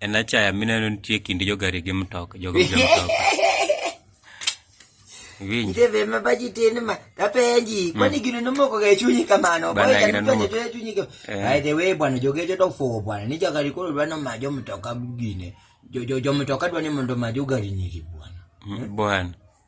En achaya mineno nitie kind jogari gi mtoka, jogo gi mtoka. Winji. Nitie be ma baji tin ma tapenji, hmm. kwani gino nomoko ga chunyi kamano. Bana Boy, gino nomoko ga chunyi kamano. Eh. By the way, bwana jogejo to fo bwana, ni jogari koro dwa no majo mtoka gine. Jo jo jo mtoka dwa ni mondo majo gari ni bwana. Hmm, bwana.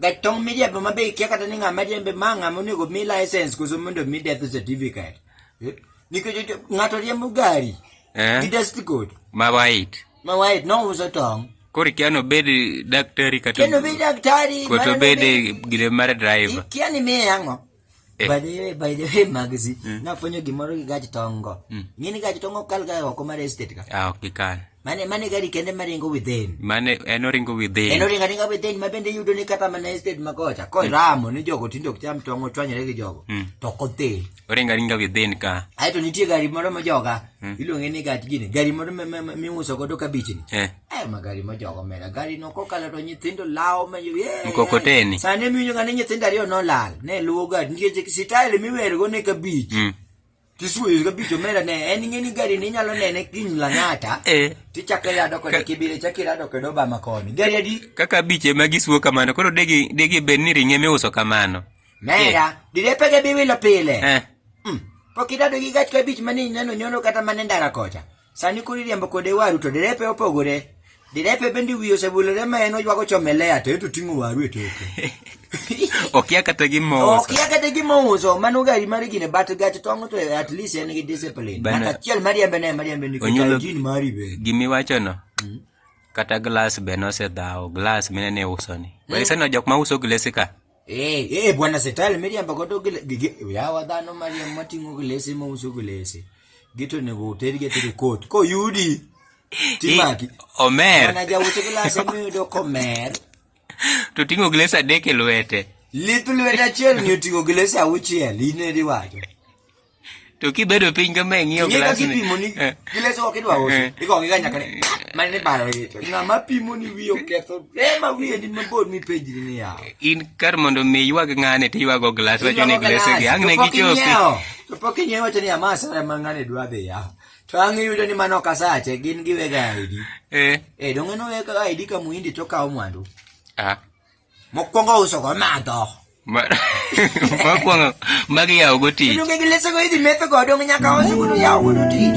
Gatong' miriambo ma be ikia kata ni ng'ama riembe ma ng'ama onego mi license koso mondo mi death certificate. Eh? Nikech ng'ato riembo gari. Eh? Gi test code. Ma white. Ma white no uso tong'. Kori kia no bed daktari kata. Kia no bed daktari. Koto bed gire mar driver. Kia ni mi yango. Eh. By the way, by the way, Magzi, mm. nafwenyo gimoro gi gach tongo. Mm. Ng'ini gach tongo kal ga oko mar estate ka. Ah, ok kal. Mane mane gari kende maringo within. Mane en oringo within. En oringo ringo within ma bende yudo ni kata mana estate ma kocha. Ko mm. ramo ni jogo tindo cham tongo chwanyre gi jogo. Mm. To kote. Oringo ringo within ka. Aito nitie gari moro ma joga. Mm. Iluonge ni gach gini. Gari moro miuso godo kabich ni. Eh. Eh, magari ma jogo mera gari no kokalo to nyithindo lawo ma eh, mkokoteni sani miwinjo ka ni nyithindo ariyo nolal ne luwo gari nikech sitayel miwergo ne kabich mm. tisuweyo kabich omera ne en ing'eni gari ni inyalo nene kiny lang'ata eh. tichako irado kode kibire chako irado kode obama koni gari adi kaka abich ema gisuwo kamano koro degi degi bed ni ring'e miuso kamano mera eh. direpege biwilo pile eh. mm. pok idado gi gach kabich mane ineno nyono kata mane ndara kocha Sani koro iriembo kode waru to derepe opogore. Derepe bende wiye osebulore ma en oywago chome lea to eto ting'o waru e toke. Okia kata gimo uso. Okia kata gimo uso. Mano gari mar gine bat gach tong' to at least en gi discipline. Bana achiel mariembe ne mariembe ni kata jin mari be. Gimi wacho no. Hmm? Kata glass be nosedhawo glass mine ne uso ni. Hmm? Walisano jok ma uso glesi ka. Eh, eh, bwana setali miriamba koto gile gige ya wadano maria matingo gilese ma uso gilese. Gito ne go teri gete de kot. Ko yudi. Timaki. Eh, omer. Ana ja uso gilese mi do komer. To tingo gilese adek e lwete. Litu lwete achiel ni otingo gilese auchiel. Ine riwacho. to kibedo piny kama ing'iyo glass ni kipimo ni eh. glass ok idwa uso eh. iko ngiga nyaka ni eh. mane ni baro ni to ngama pimo ni wiyo ketho ema wiye ni mabor mi page ni ya in kar mondo mi ywag ngane ti ywago glass wacho ni glass gi ang ne gichopi to pok inyewo wacho ni amasa re mangane dwa dhi ya to ang yudo ni mano kasache gin giwega ID eh eh dongeno wega ID ka muindi to kawo mwandu ah Mokwongo uso go madho. Mokwongo mag yawo go tich. Donge gi lese go idhi metho go donge nyaka uso go yawo go tich.